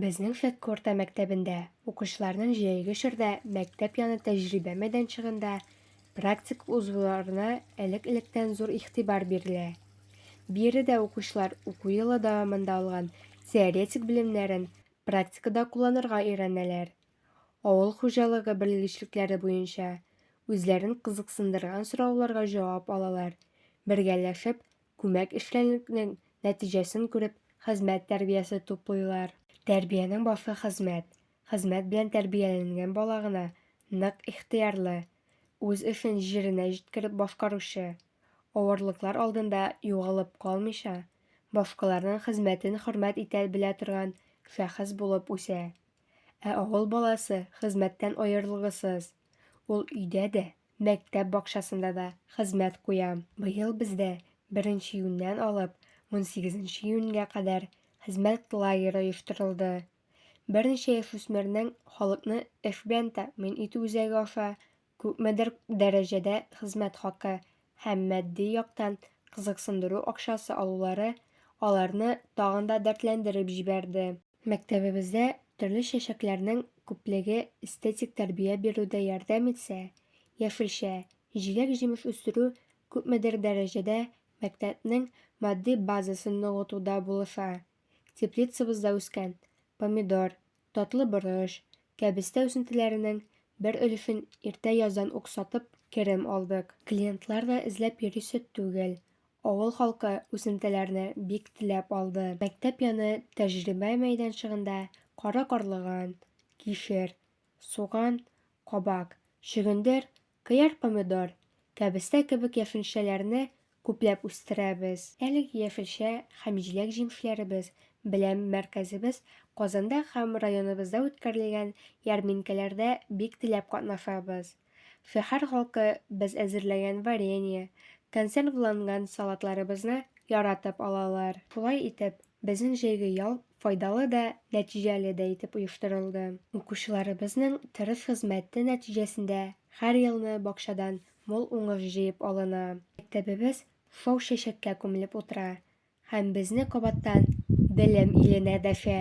Безнең Шәкке урта мәктәбендә укучыларның җәйге чорда мәктәп яны тәҗрибә мәйданчыгында практик узуларына элек-электән зур игътибар бирелә. Биредә укучылар уку елы дәвамында алган теоретик белемнәрен практикада кулланырга өйрәнәләр, авыл хуҗалыгы белгечлекләре буенча үзләрен кызыксындырган сорауларга җавап алалар, бергәләшеп Күмәк эшчәнлекнең нәтиҗәсен күреп, хезмәт тәрбиясе туплыйлар. Тәрбиянең башы хезмәт. Хезмәт белән тәрбияләнгән бала гына нык ихтыярлы, үз эшен җиренә җиткереп башкаручы, авырлыклар алдында югалып калмыйча, башкаларның хезмәтен хөрмәт итә белә торган шәхес булып үсә. Ә авыл баласы хезмәттән аерылгысыз. Ул өйдә дә, Мәктәп бакчасында да хезмәт куям. Быел бездә беренче июньнән алып унсигезенче июньгә кадәр хезмәт лагеры оештырылды. Берничә яшүсмернең халыкны эш белән тәэмин итү үзәге аша күпмедер дәрәҗәдә хезмәт хакы һәм матди яктан кызыксындыру акчасы алулары аларны тагын да дәртләндереп җибәрде. Мәктәбебездә төрле чәчәкләрнең күплеге эстетик тәрбия бирүдә ярдәм итсә, яшелчә, җиләк-җимеш үстерү күпмедер дәрәҗәдә мәктәпнең матди базасын ныгытуда булыша. Теплицабызда үскән помидор, татлы борыч, кәбестә үсентеләренең бер өлешен иртә яздан ук сатып керем алдык. Клиентлар да эзләп йөрисе түгел, Авыл халкы үсентеләрне бик теләп алды. Мәктәп яны тәҗрибә мәйданчыгында кара карлыган, кишер, суган, кабак, чөгендер, кыяр-помидор, кәбестә кебек яшелчәләрне күпләп үстерәбез. Әлеге яшелчә һәм җиләк-җимешләребез белән мәркәзебез Казанда һәм районыбызда үткәрелгән ярминкәләрдә бик теләп катнашабыз. Шәһәр халкы без әзерләгән варенье, консервланган салатларыбызны яратып алалар. Шулай итеп, безнең җәйге ял файдалы да, нәтиҗәле дә итеп оештырылды. Укучыларыбызның тырыш хезмәте нәтиҗәсендә һәр елны бакчадан мул уңыш җыеп алына. Мәктәбебез шау-чәчәккә күмелеп утыра һәм безне кабаттан белем иленә дәшә.